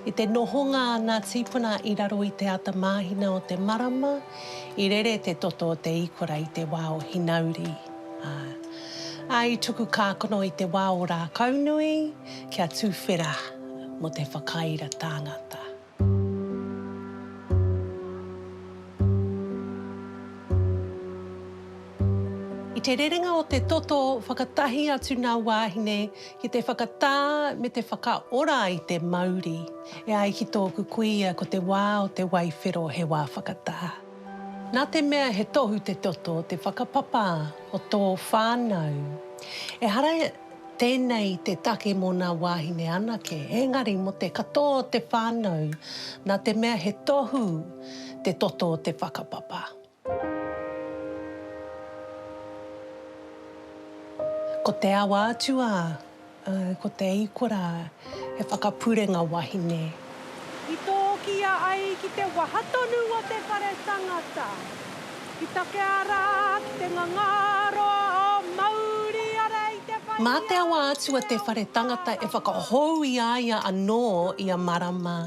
I te nohonga a ngā tīpuna i raro i te ata māhina o te marama, i rere te toto o te īkora i te wā o Hinauri, ā, ā, i tuku kākano i te wā o Rākaunui, Kia tuwhera mo te whakaira tangata. I te rerenga o te toto whakatahi atu nga wahine ki te whakatā me te whakaora i te mauri. E ai ki tōku kuia ko te wā o te waiwhero he wā whakatā. Nā te mea he tohu te toto te whakapapa o tō whānau. Ehara. Tēnei te take mō nā wāhine anake, engari mō te katoa o te whānau, nā te mea he tohu te toto o te whakapapa. Ko te awa atu a, ko te ikora he whakapurenga wahine. I tōkia ai ki te waha tonu o te whare tangata, i takea rā ki te ngangaroa o Mauri ara i te whai a. Mā te awa atu a te whare tangata e whakahou i a ia anō ia marama.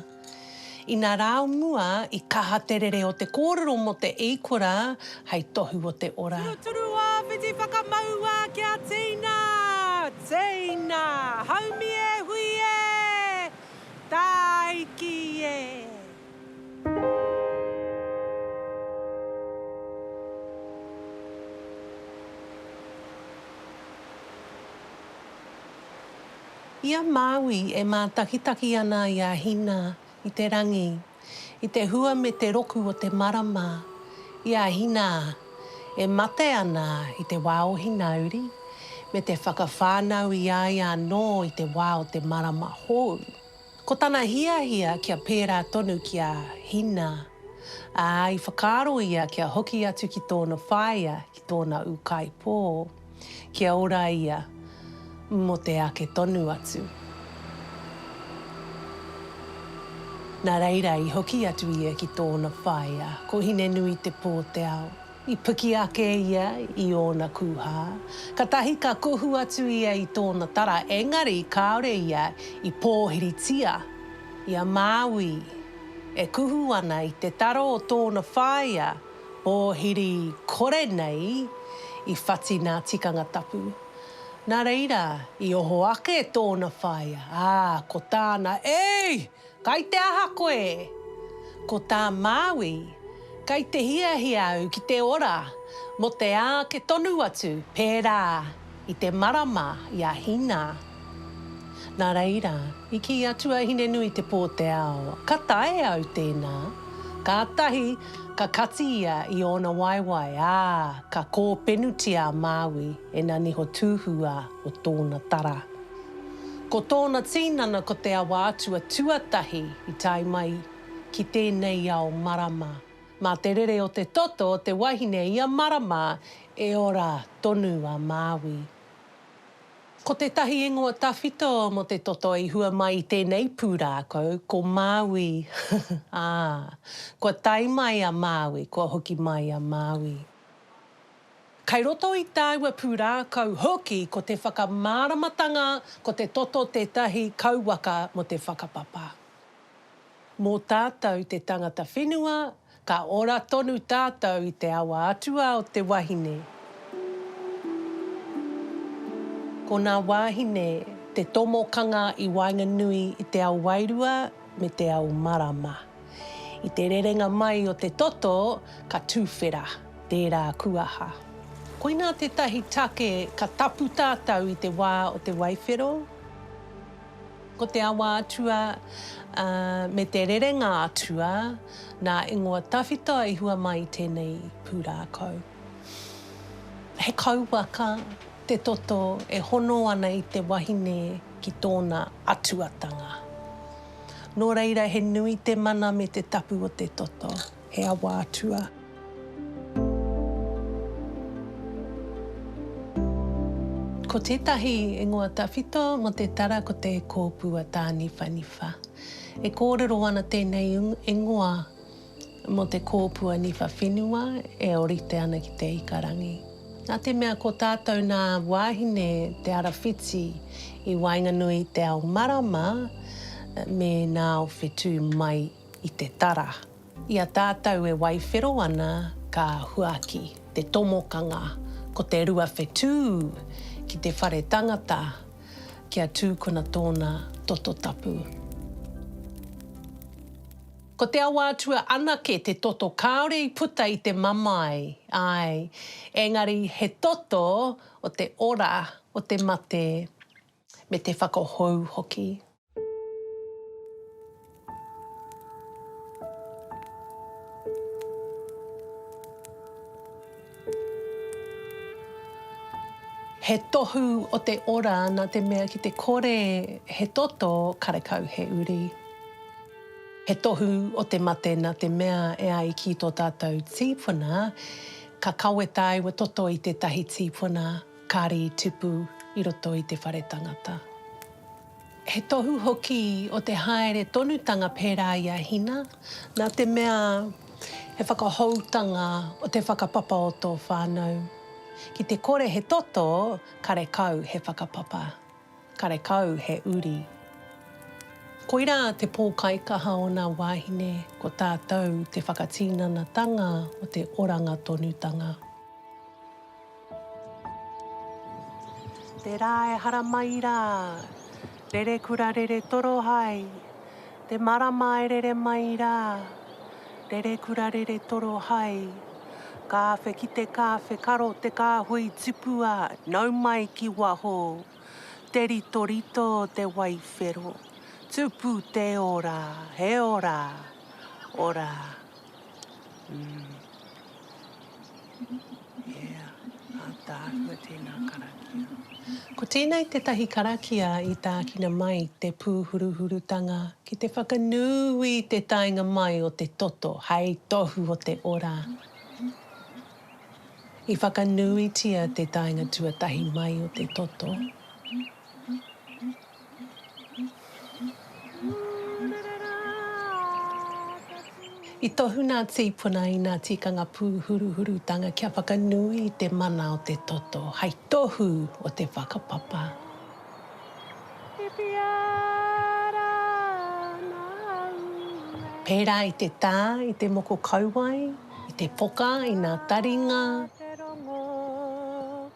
Ina rā o mua, i kaha te rere o te kōrero mō te eikora hei tohu o te ora. Turuturu a Whiti Whakamaua kia Tina! Tina! Haumi e hui e! Tāiki e! I a Māui e mātakitaki ana i a Hina i te rangi. i te hua me te roku o te marama, i a Hina e mate ana i te wā o Hinauri, me te whakawhānau i a ia anō i te wā o te marama hou. Ko tana hiahia kia pērā tonu ki a Hina, ā, i whakaaro ia kia hoki atu ki tōna whaea, ki tōna ūkaipō. Kia ora ia mo te ake tonu atu. Na reira i hoki atu ia ki tona whaea, ko Hine-nui-te-po-te-ao. I piki ake ia i ona kuha, katahi ka kohu atu ia i tona tara, engari kaore ia i pohiritia i a Maui e kuhu ana i te taro o tona whaea, pōhiri kore nei i whati nā Tikanga Tapu. Nā reira, i oho ake tōna whaea, ā, ko tāna, Ei! Kai te aha koe? Ko tā Māui, Kai te hiahia au ki te ora mō te āke tonu atu, pērā. I te marama i a Hina. Nā reira, i kī a Tuahinenuitepōteao, Ka tae au tēnā. Kātahi, ka kati ia i ōna waewae, ā, ka kōpenutia a Māui e nā niho tūhūā o tōna tara. Ko tōna tīnana ko te awa atua tuatahi i tae mai ki tēnei ao marama. Mā te rere o te toto o te wahine ia marama E ora tonu a Māui. Ko tētahi ingoa tawhito mō te toto i hua mai i tēnei pūrākau, ko Māui. Ā, kua tae mai a Māui, kua hoki mai a Māui. Kai roto i tāua pūrākau hoki ko te whakamāramatanga ko te toto tētahi kauwaka mō te whakapapa. Mō tātou te tangata whenua Ka ora tonu tātou i te awa atua o te wahine. Ko nā wāhine te tomokanga i waenganui i te ao wairua me te ao marama. I te rerenga mai o te toto, ka tuwhera tērā kuaha. Koinā tētahi take ka tapu tātou i te wā o te waiwhero. Ko te awa atua me te rerenga atua nā ingoa tawhito i hua mai i tēnei pūrākau. He kauwaka te toto e hono ana i te wahine ki tōna atuatanga. Nō reira he nui te mana me te tapu o te toto. He awa atua. Ko tētahi ingoa tawhito mō te tara ko te kōpua tāniwhaniwha. E kōrero ana tēnei ingoa mō te kōpua niwha whenua e orite ana ki te ikarangi. Nā te mea ko tātou nā wāhine te ara whiti i waenganui i te ao marama me nā o whetū mai. i te tara. I a tātou e waiwhero ana ka huaki te tomokanga ko te rua whetū ki te whare tangata kia tūkuna tōna toto tapu. Ko te awa atua anake te toto kāore i puta i te mamae, āe, engari he toto o te ora o te mate. Me te whakahou hoki. He tohu o te ora na te mea ki te kore he toto karekau he uri. He tohu o te mate na te mea e ai ki to tatou tipuna ka kawetae wa toto i tetahi tipuna. Kāri i tipu i roto i te whare tangata. He tohu hoki o te haere tonutanga pērā i a Hina, nā te mea he whakahoutanga o te whakapapa o tō whānau. Ki te kore he toto, karekau he whakapapa, karekau he uri. Koirā te pōkaikaha o nā wāhine, ko tātou te whakatīnanatanga o te oranga tonutanga. Te rā e haramai rā. Rere kura rere toro hai. Te marama e rere mai rā. Rere kura rere toro hai. Kāwhe ki te kāwhe karo te kāhui tipua nau mai ki waho. Te ritorito te wai whero. Tupu te ora, he ora, ora. Ko tēnei tētahi karakia i tākina mai te pūhuruhurutanga ki te whakanui i te taenga mai o te toto hei tohu o te ora. I whakanuitia te taenga tuatahi mai o te toto. I tohu nā Tīpuna i nā tikanga pūhuruhurutanga kia whakanui i te mana o te toto hai tohu o te whakapapa. Pērā i te tā, i te moko kauae, i te poka, i nā taringa.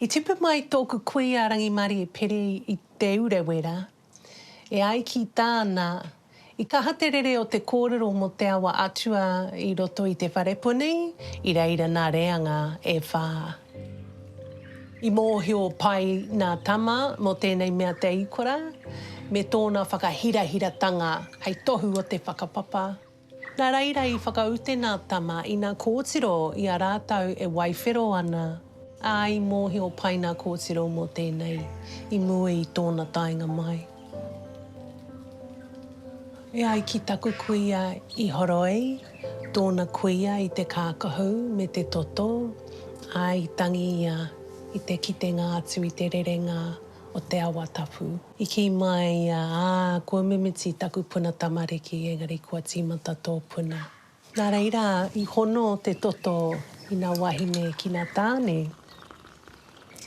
I tipu mai tōku kuia Rangimarie Piri i Te Urewera, e ai ki tāna, I kaha te rere o te kōrero mō te awa atua i roto i te wharepuni i reira nā reanga e whā. I mōhio pai nā Tama mō tēnei mea Te Ikora me tōna whakahirahiratanga hei tohu o te whakapapa. Na reira i whakaute nga tama ina kotiro i a ratou e waiwhero ana, a i mohio pai na kotiro mo tenei i mua i tona taenga mai. E ai ki taku kuia i horoi tona kuia i te kakahu me te toto, a i tangi ia i te kitenga atu i te rerenga o te awa tapu. I kī mai ia, Ā, kua mimiti taku puna tamariki, engari kua tīmata tō puna. Nā reira, i hono te toto i ngā wāhine ki ngā tāne,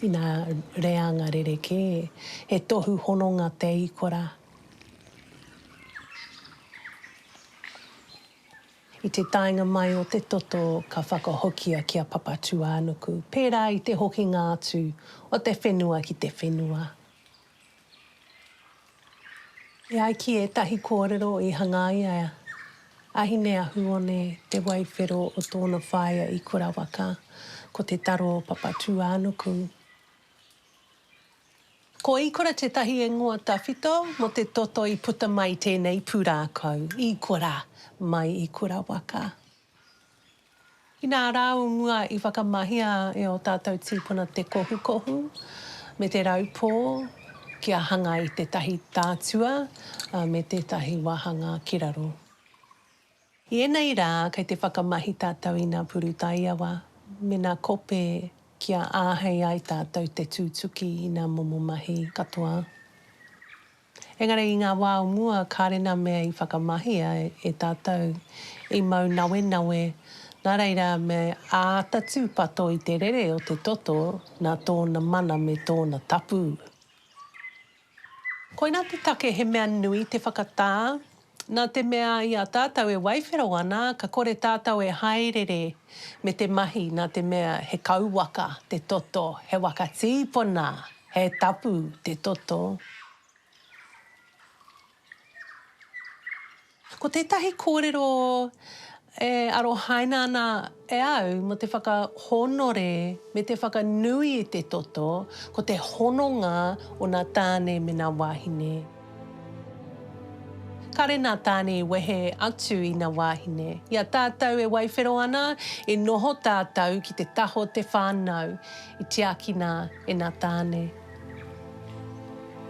i ngā reanga rerekē, he tohu hononga te ikora. I te taenga mai o te toto, ka whakahokia ki a Papatūānuku, pērā i te hokinga atu o te whenua ki te whenua. E ai ki ētahi kōrero i hangaia e Ahineahuone te waiwhero o tōna whaea i Kurawaka, ko Te Taro o Papatūānuku. Ko Ikora tētahi ingoa tawhito mō te toto i puta mai tēnei pūrākau, Ikora mai i Kurawaka. Inā rāunua i whakamahia e ō tātou tīpuna te kohukohu me te raupō kia hanga i tētahi tātua me tētahi wāhanga ki raro. I ēnei rā kei te whakamahi tātou i ngā puru taiawa me ngā kope kia āhei ai tātou te tūtuki i ngā momo mahi katoa. Engari i ngā wā o mua kāre nā mea i whakamahia e tātou i mau nawenawe, nā reira me āta tūpato i te rere o te toto nā tōna mana me tōna tapu. Koinā te take he mea nui te whakatā Nā te mea i a tātou e waiwhero ana, ka kore tātou e hāereere me te mahi nā te mea he kauwaka te toto, he waka tīpona, he tapu te toto. Ko tētahi kōrero E arohaina ana e au mō te whakahōnore me te whakanui i te toto, ko te hononga o nā tāne me nā wāhine. Kāre nā tāne i wehe atu i nā wāhine. I a tātou e waiwhero ana, i noho tātou ki te taha o te whānau, i tiakina e nā tāne.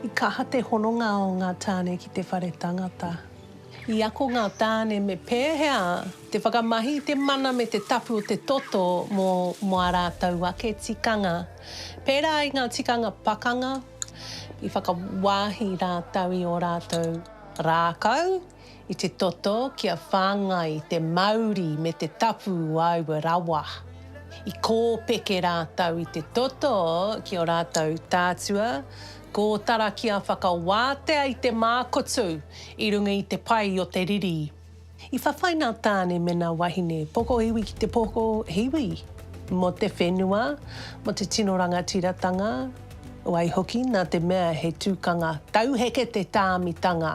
I kaha te hononga o ngā tāne ki te whare tangata. I ako ngā tāne me pēhea te whakamahi i te mana me te tapu o te toto mō mō ā rātou ake tikanga, pērā i ngā tikanga pakanga i whakawāhi rātou i ō rātou rākau i te toto kia whāngai te mauri me te tapu o aua rawa. I kōpeke rātou i te toto ki ō rātou tātua, Kōtara kia whakawātea i te mākutu i runga i te pai o te riri. I whawhai nā Tāne me nā wahine pokohiwi ki te pokohiwi mō te whenua, mō te tino rangatiratanga, waihoki nā te mea he tukanga tauheke te tāmitanga.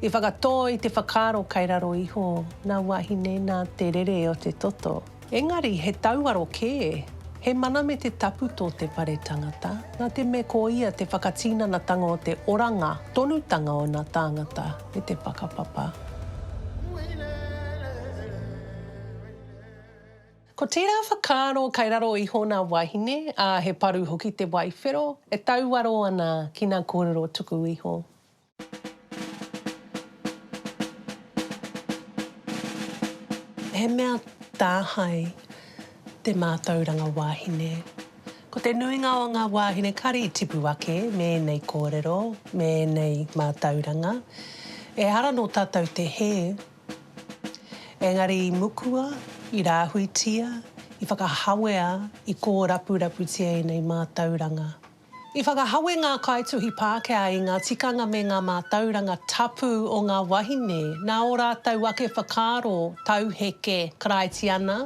I whakatō i te whakaaro kei raro iho nā wahine nā te rere o te toto. Engari he tauaro kē, he mana me te tapu tō te whare tangata, nā te mea ko ia te whakatinanatanga o te oranga tonutanga o nā tāngata me te whakapapa. Ko tērā whakaaro kai raro iho nā wāhine, ā, he paru hoki te wae whero e tauaro ana ki nā kōrero tuku iho. He mea tāhae te mātauranga wāhine. Ko te nuinga o ngā wāhine kari i tipu ake me ēnei kōrero, me ēnei mātauranga. Ehara nō tātou te hē. Engari i mukua, i rāhuitia, i whakahawea, i kōrapuraputia ēnei mātauranga. I whakahawe ngā kaituhi Pākehā i ngā tikanga me ngā mātauranga tapu o ngā wahine nā ō rātou ake whakaaro tauheke Karaitiana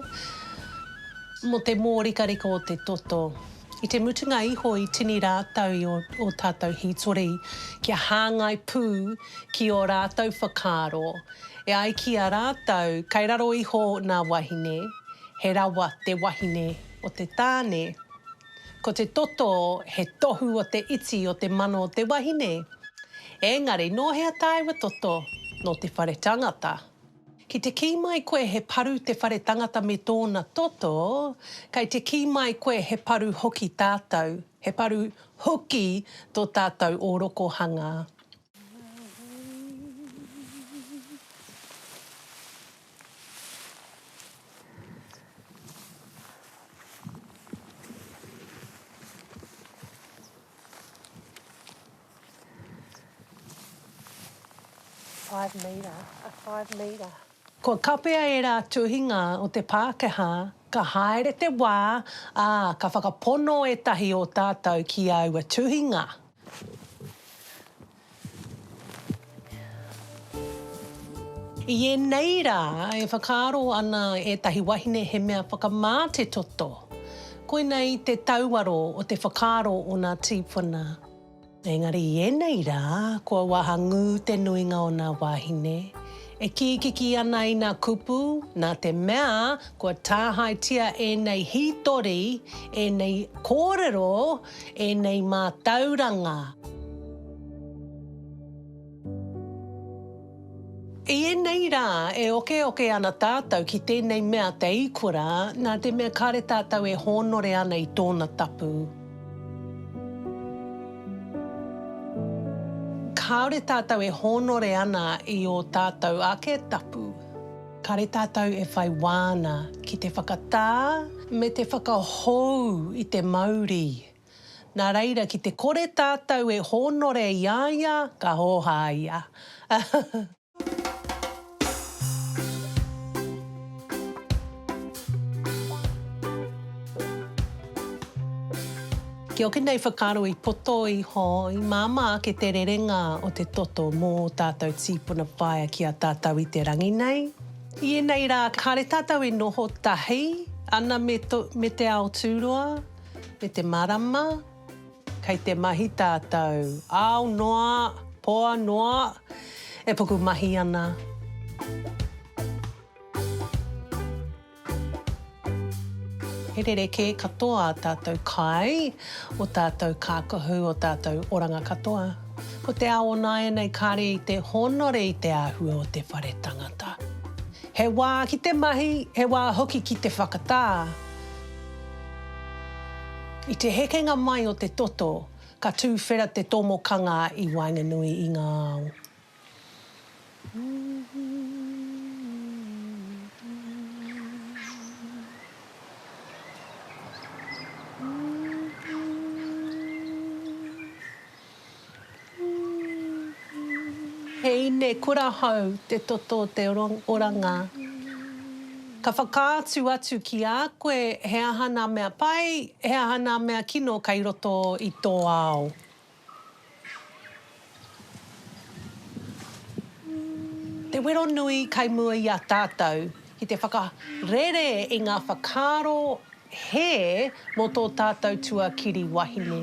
mō te mōrikarika o te toto. I te mutunga iho i tini rātou i ō tātou hītori kia hāngai pū ki ō rātou whakaaro, e ai ki a rātou kei raro iho nā wahine, he rawa te wahine o te tāne. Ko te toto he tohu o te iti o te mano o te wahine. Engari nō hea tāua toto? Nō te whare tangata. Ki te kī mai koe he paru te whare tangata me tōna toto, kei te kī mai koe he paru hoki tātou, he paru hoki tō tātou ōrokohanga. Five metre, a five metre. Kua kapea ērā tuhinga o te Pākehā, ka haere te wā, ā, ka whakapono ētahi o tātou ki aua tuhinga. I ēnei rā e whakaaro ana ētahi wahine he mea whakamā te toto. Koinei te tauaro o te whakaaro o nā tīpuna. Engari i ēnei rā kua wahangū te nuinga o nā wāhine e kīkiki ana i nā kupu nā te mea kua tāhaetia ēnei hītori, ēnei kōrero ēnei mātauranga. I ēnei rā, e okeoke ana tātou ki tēnei mea te ikura, nā te mea kāre tātou e hōnore ana i tōna tapu. Kāore tātou e hōnore ana i ō tātou ake tapu. Kāre tātou e whai wā ana ki te whakatā me te whakahou i te mauri. Nā reira, ki te kore tātou e hōnore i a ia, ka hōhā ia. Ki ō kēnei whakaaro i poto iho, i māmā ake te rerenga o te toto mō ō tātou tīpuna whaea ki a tātou i te rangi nei. I ēnei rā, kāre tātou e noho tahi ana me to, me te ao tūroa, me te marama, kei te mahi tātou, ao noa, poa noa, e pukumahi ana. He rerekē katoa tātou kai, o tātou kākahu, o tātou oranga katoa. Ko te ao onāianei kāre i te hōnore i te āhua o te whare tangata. He wā ki te mahi, he wā hoki ki te whakatā. I te hekenga mai o te toto, ka tūwhera te tomokanga i waenganui i ngā ao. He ine kura hou te toto o te oranga. Ka whakaatu atu ki a koe he aha nā mea pai, he aha nā mea kino kei roto i tō ao. Te wero nui kai mua i a tātou ki te whakarere i ngā whakaaro hē mō tō tātou tuakiri wahine.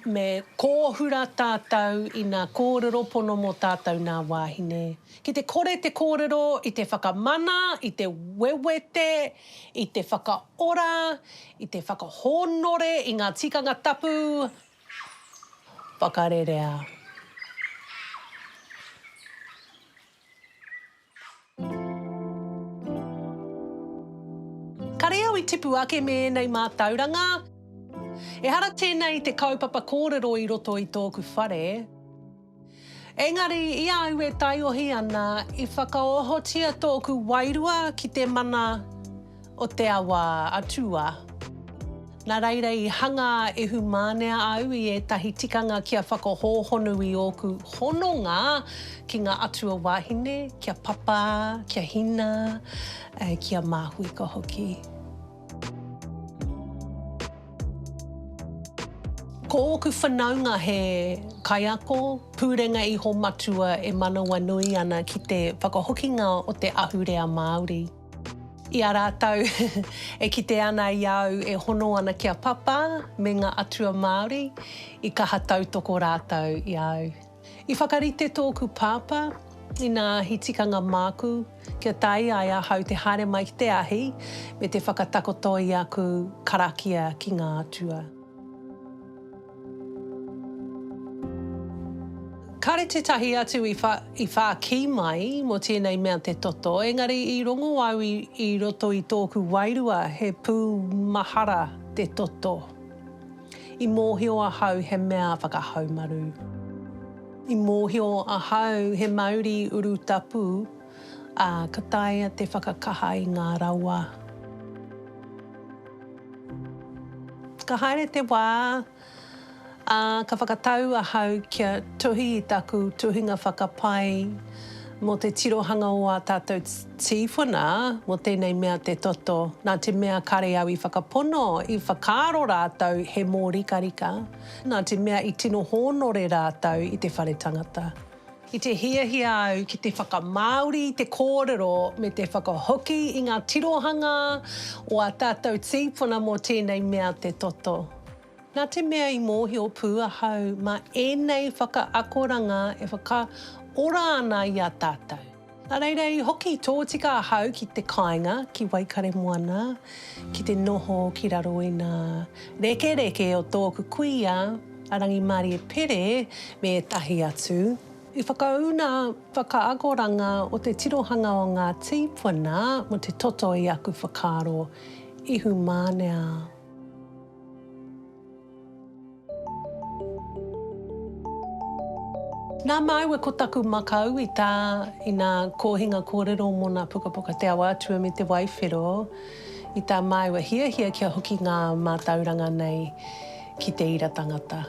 Me kōhura tātou i nā kōrero pono mō tātou nā wāhine. Ki te kore te kōrero i te whakamana, i te wewete, I te whakaora, i te whakahōnore i ngā tikanga tapu, whakarerea. Kare au i tipu ake me ēnei mātauranga. Ehara tēnei te kaupapa kōrero i roto i tōku whare. Engari, i a au e taiohi ana, i whakaohotia tōku wairua ki te mana o te awa atua. Nā reira i hanga ehumānea au i ētahi tikanga kia whakahōhonu i ōku hononga ki ngā atua wāhine, ki a Papa, ki a Hina, ki a Māhuika hoki. Ko ōku whanaunga he kaiako pūrenga iho matua e manawanui ana ki te whakahokinga o te ahurea Māori. I a rātou e kite ana i a au e hono ana ki a Papa me ngā atua Māori, i kaha tautoko rātou i a au. I whakarite tōku pāpā, inā he tikanga māku, kia tae ai ahau te haere mai ki te ahi, me te whakatakoto i aku karakia ki ngā atua. Kāre tētahi atu i whākī mai mō tēnei mea te toto, engari i rongo au i roto i tōku wairua he pūmahara te toto. I mōhio ahau he mea whakahaumaru. I mōhio ahau he mauri urutapu, ā, ka taea te whakakaha i ngā rawa. Ka haere te wā, ā, ka whakatau ahau kia tuhi i taku tuhinga whakapae mō te tirohanga o ā tātou. Tīpuna, mō tēnei mea te toto, nā te mea kare au i whakapono, i whakaaro rātou he mōrikarika, nā te mea i tino hōnore rātou i te whare tangata. I te hiahia au ki te whakamāori i te kōrero me te whakahoki i ngā tirohanga o ā tātou tīpuna mō tēnei mea te toto. Nā te mea i mōhio pū ahau mā ēnei whakaakoranga e whakaora ana i a tātou. Nā reira i hoki tōtika ahau ki te kāinga, ki Waikaremoana, ki te noho ki raro i ngā rekereke o tōku kuia, a Rangimārie Pere me ētahi atu, i whakaū ngā whakaakoranga o te tirohanga o ngā tīpuna mō te toto i aku whakaaro ihumānea. Nā māua ko taku makau i tā i nā kōhinga kōrero mō nā pukapuka Te Awa Atua me Te Waiwhero, i tā māua hiahia kia hoki ngā mātauranga nei ki te ira tangata.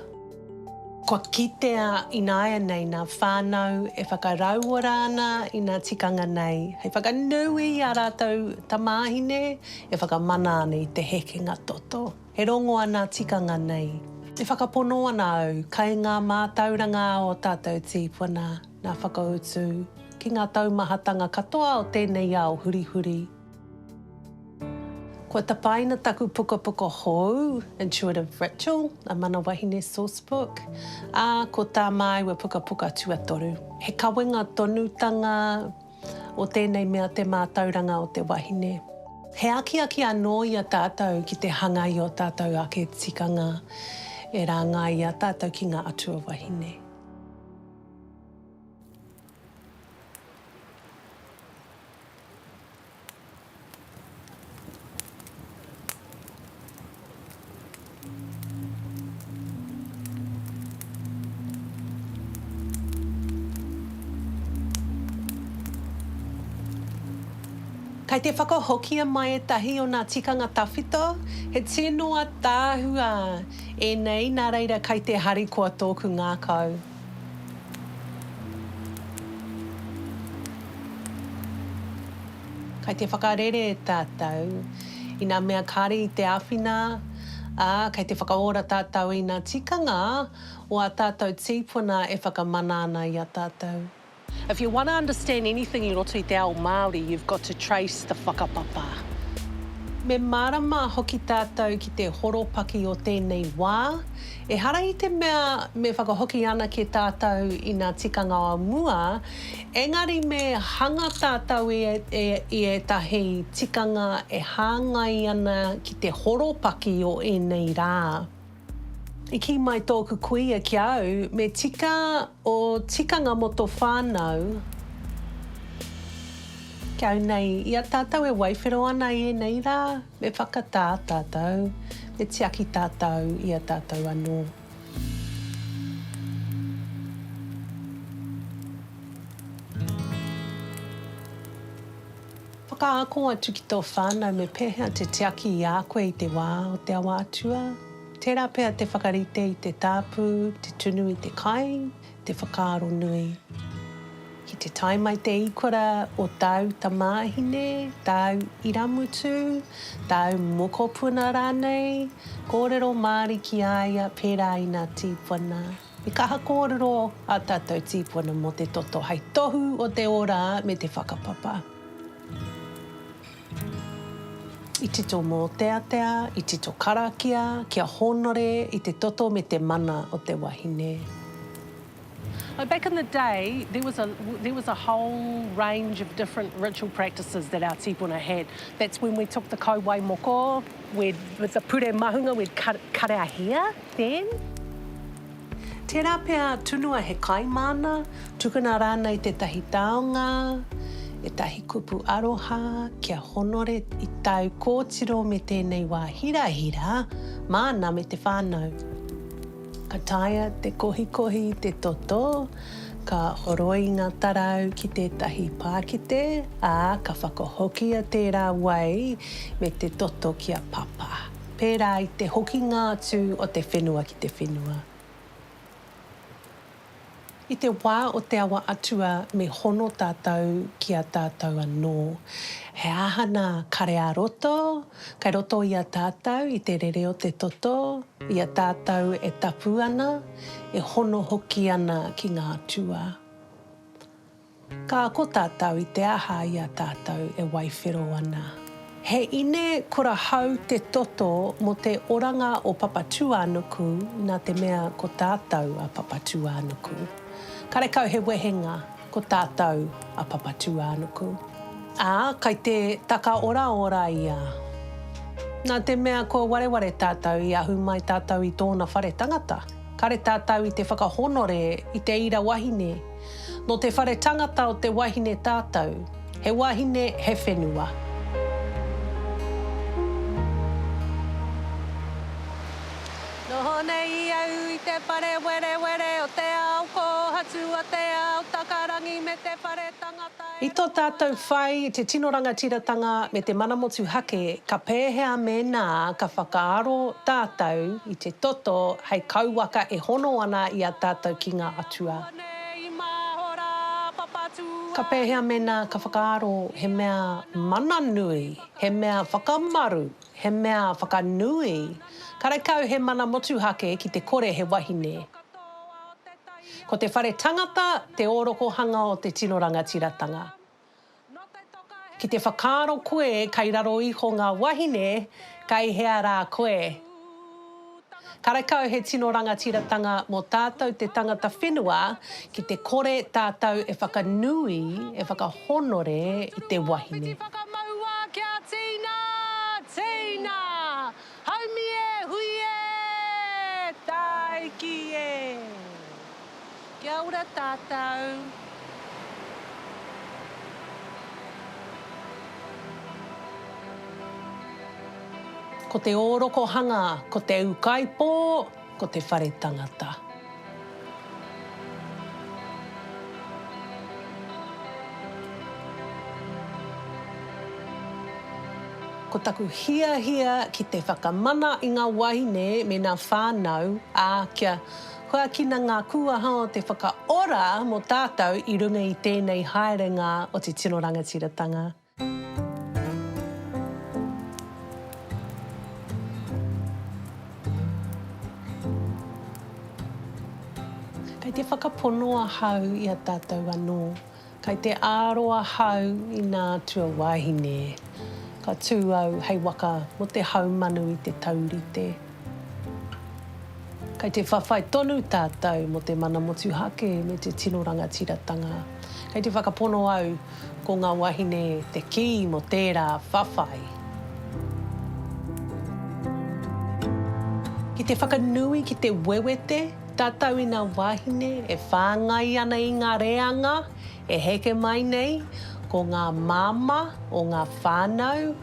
Kua kitea ināianei ngā whānau e whakarauora ana i ngā tikanga nei hei whakanui i ā rātou tamāhine e whakamana ana i te hekenga toto. E rongo ana ngā tikanga nei. E whakapono ana au kai ngā mātauranga o tātou tīpuna ngā whakautu ki ngā taumahatanga katoa o tēnei ao hurihuri. Kua tapaina taku pukapuka hou, Intuitive Ritual, A Mana Wahine Sourcebook, ā, ko tā māua pukapuka tuatoru, he kawenga tonutanga o tēnei mea te mātauranga o te wahine. He akiaki anō i a tātou ki te hanga i ō tātou ake tikanga e rāngaia tātou ki ngā atua wahine. Kei te whakahokia mai ētahi o nā tikanga tawhito, he tino ataahua ēnei nā reira kei te harikoa tōku ngākau. Kai te whakarere tātou i ngā mea kāre i te āwhina, ā, kai te whakaora tātou i ngā tikanga o ā tātou tīpuna e whakamana ana i a tātou. If you wanna understand anything i roto i te ao Māori, you've got to trace the whakapapa. Me mārama hoki tātou ki te horopaki o tēnei wā. Ehara i te mea me whakahoki anake tātou i ngā tikanga o mua, engari me hanga tātou i ētahi tikanga e hāngai ana ki te horopaki o ēnei rā. I kī mai tōku kuia ki a au, me tika ō tikanga mō tō whānau. Ki au nei, i a tātou e waiwhero ana i ēnei rā, me whakatā tātou, me tiaki tātou i a tātou anō. Whakaako atu ki tō whānau me pēhea te tiaki i a koe i te wā o te awa atua, tērā pea te whakarite i te tāpū, te tunu i te kai, te whakaaro nui. Ki te tae mai te ikora o tāu tamāhine, tāu irāmutu, tāu mokopuna rānei, kōrero Māori ki a ia pērā i ngā tīpuna. He kaha kōrero ā tātou tīpuna mō te toto hai tohu o te ora me te whakapapa. I tito mōteatea, i tito karakia kia hōnore i te toto me te mana o te wahine. Like back in the day, there was a there was a whole range of different ritual practices that our tipuna had. That's when we took the kauwai moko, we'd, with the pure mahunga, we'd cut, cut our hair. Then? Tērā pea tunua he kai māna, tukuna rānei tētahi taonga, ētahi kupu aroha kia honore i tāu kōtiro me tēnei wā hirahira māna me te whānau. Ka taea te kohikohi i te toto, ka horoi ngā tarau ki tētahi pākite, ā, ka whakahokia tērā wai me te toto ki a Papa. pērā i te hokinga atu o te whenua ki te whenua. I te wā o te awa atua me hono tātou ki a tātou anō. He aha nā kare ā roto, kei roto i a tātou i te rere o te toto, i a tātou e tapu ana, e hono hoki ana ki ngā atua. Ka ako tātou i te aha i a tātou e waiwhero ana. He ine kura hau te toto mō te oranga o Papatūānuku nā te mea ko tātou a Papatūānuku. Karekau he wehenga ko tātou a Papatūānuku. Ā, kai te takaoraora ia. Nā te mea kua wareware tātou i ahu mai tātou i tōna whare tangata, kare tātou i te whakahonore i te ira wahine, Nō te whare tangata o te wahine tātou. He wahine, he whenua. Noho nei i au i te whare werewere o te ao kōhatu a te ao takarangi me te whare tangata e. I tō tātou whai i te tino rangatiratanga me te mana motuhake, ka pēhea mēnā ka whakaaro tātou i te toto hei kauwaka e hono ana i a tātou ki ngā atua? Ka pēhea mēnā ka whakaaro he mea mana nui, he mea whakamaru, he mea whakanui, karekau he mana motuhake ki te kore he wahine? Ko te whare tangata te ōrokohanga o te tino rangatiratanga. Ki te whakaaro koe kei raro iho ngā wahine, kei hea rā koe? Karekau he tino rangatiratanga mō tātou te tangata whenua ki te kore tātou e whakanui, e whakahonore i te wahine. Ngāti Whakamauā kia tīna, tīna! Haumi e! Hui e! Tāiki e! Kia ora tātou. Ko te ōrokohanga, ko te ūkaipō. Ko te whare tangata. Ko taku hiahia ki te whakamana i nga wahine me na whanau, a kia huakina nga kuaha o te whakaora mo tatou i runga i tenei haerenga o te tino rangatiratanga. Kei te whakapono ahau i a tātou anō, kei te āro ahau i nā tuawāhine. Ka tū au hei waka mō te haumanu i te taurite. Kei te whawhai tonu tātou mō te mana motuhake me te tino rangatiratanga. Kei te whakapono au, ko ngā wāhine te kī mō tērā whawhai. Ki te whakanui, ki te wewete, tātou i ngā wāhine e whāngai ana i ngā reanga e heke mai nei, ko ngā māmā o ngā whānau,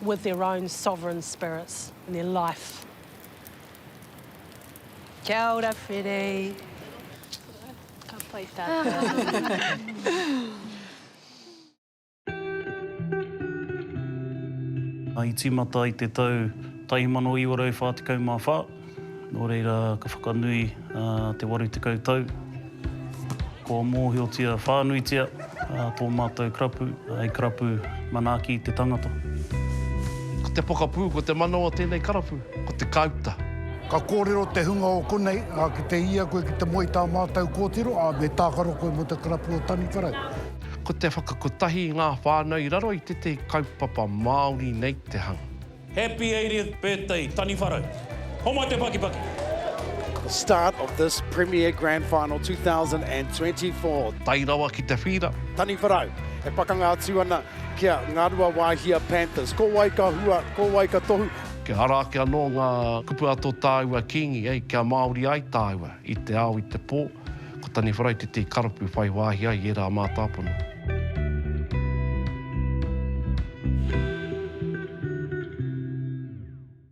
with their own sovereign spirits and their life. Kia ora, Freddie. Ka pai tātou. I tīmata i te tau 1944, Nō reira ka whakanui te 80 tau, kua mōhiotia whānuitia tō mātou karapu hei karapu manaaki te tangata. Ko te pokapū, ko te mana o tēnei karapu, ko te kāuta. Ka kōrero te hunga o konei, ā, ki te hia koe ki te moe i tā mātou kōtiro, ā, me tākaro koe mō te karapu o Taniwharau. Ko te whakakotahi i ngā whānau i raro i tētahi kaupapa Māori nei te hanga. Happy 80th birthday Taniwharau. Homai te pakipaki! Start of this Premier Grand Final 2024. Tae rawa ki te whira. Taniwharau, e pakanga atu ana ki a Ngaruawāhia Panthers. Ko wai ka hua, ko wai ka tohu? Kia ara ake anō ngā kupu a tō tāua Kīngi, kia Māori ai tāua i te ao, i te pō. Ko Taniwharai te tī karapu whai wāhi ai i ērā mātāpono.